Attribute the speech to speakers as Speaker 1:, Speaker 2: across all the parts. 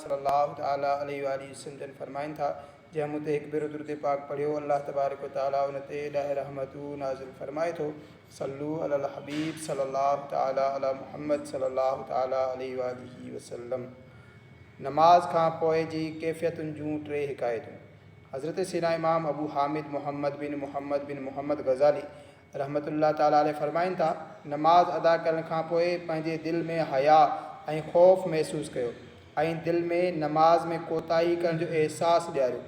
Speaker 1: صلّي اللّٰه تعالٰي عليه واٰله وسلّم جن فرمائن ٿا، جنهن مون تي هڪ ڀيرو درود پاڪ پڙهيو، اللّٰه تبارڪ و تعالٰي ان تي ڏهه رحمتون نازل فرمائي ٿو، صلّو علي الحبيب صلّي اللّٰه تعالٰي علي محمّد صلّي اللّٰه تعالٰي عليه واٰله وسلّم. نماز کان پوء جي ڪيفيتن جون ٽي حڪايتون، حضرت سيدنا امام ابو حامد محمّد بن محمّد بن محمّد غزالي رحمة الله تعالٰي عليه فرمائن ٿا، نماز ادا ڪرڻ کان پوء پنهنجي دل ۾ حياء ۽ خوف محسوس ڪيو ۽ دل ۾ نماز ۾ ڪوتاهي ڪرڻ جو احساس ڏياريو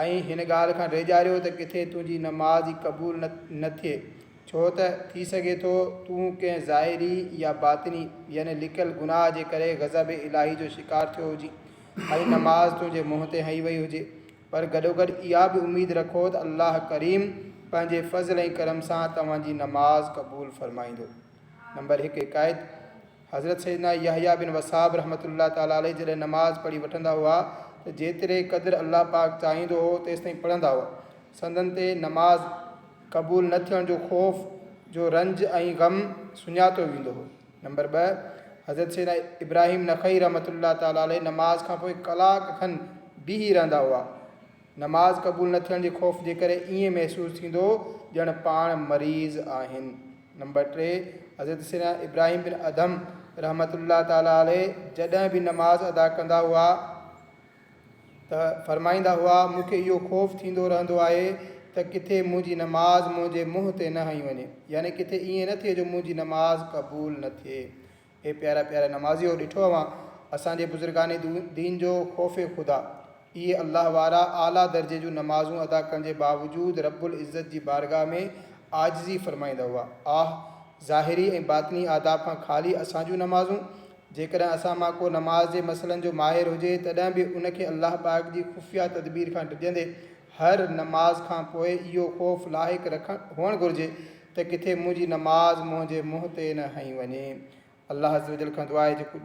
Speaker 1: ۽ هن ڳالهه کان ڊيڄاريو ته ڪٿي تنهنجي نماز ئي قبول نه ٿئي ڇو ته ٿي سگهي ٿو تون ڪنهن ظاهري يا باطني يعني لڪل گناهه جي ڪري غضب الاهي جو شڪار ٿيو هجين ۽ نماز تنهنجي منهن تي هنئي وئي هجي پر گڏوگڏ اها به اميد رکو ته الله ڪريم پنهنجي فضل ۽ ڪرم سان توهان جي نماز قبول فرمائيندو. نمبر هڪ حڪايت، حضرت سيدنا يحيٰ بن وثاب رحمة الله تعالٰي عليه جڏهن نماز پڙهي وٺندا هئا ته جيتري قدر الله پاڪ چاهيندو هو تيستائين پڙهندا هئا، سندن تي نماز قبول نه ٿيڻ جو خوف جو رنج ۽ غم سڃاتو ويندو هو. نمبر ٻه، حضرت سيدنا ابراهيم نخعي رحمة الله تعالٰي عليه نماز کان پوء ڪلاڪ کن بيهي رهندا هئا. نماز قبول نه ٿيڻ جي خوف جي ڪري ائين محسوس ٿيندو ڄڻ پاڻ مريض آهن. نمبر ٽي، حضرت سيدنا ابراهيم بن ادهم رحمة الله تعالٰي عليه جڏهن به نماز ادا ڪندا هئا، ته فرمائيندا هئا، مون کي اهو خوف ٿيندو رهندو آهي ته ڪٿي منهنجي نماز منهنجي منهن تي نه هنئي وڃي، يعني ڪٿي ائين نه ٿئي جو منهنجي نماز قبول نه ٿئي. اي پيارا پيارا نمازيؤ! ڏٺو اوهان اسان جي بزرگان دين جو خوف خدا! اهي الله وارا اعليٰ درجي جون نمازون ادا ڪرڻ جي باوجود رب العزت جي بارگاهه ۾ عاجزي فرمائيندا هئا. آه! ظاهري ۽ باطني آداب کان خالي اسان جون نمازون! جيڪڏهن اسان مان ڪو نماز جي مسئلن جو ماهر هجي تڏهن به ان کي الله پاڪ جي خفيه تدبير کان ڊڄندي هر نماز کان پوء اهو خوف لاحق رکڻ هئڻ گهرجي ته ڪٿي منهنجي نماز منهنجي منهن تي نه هنئي وڃي. الله عزّ وجلّ کان دعا آهي جيڪو.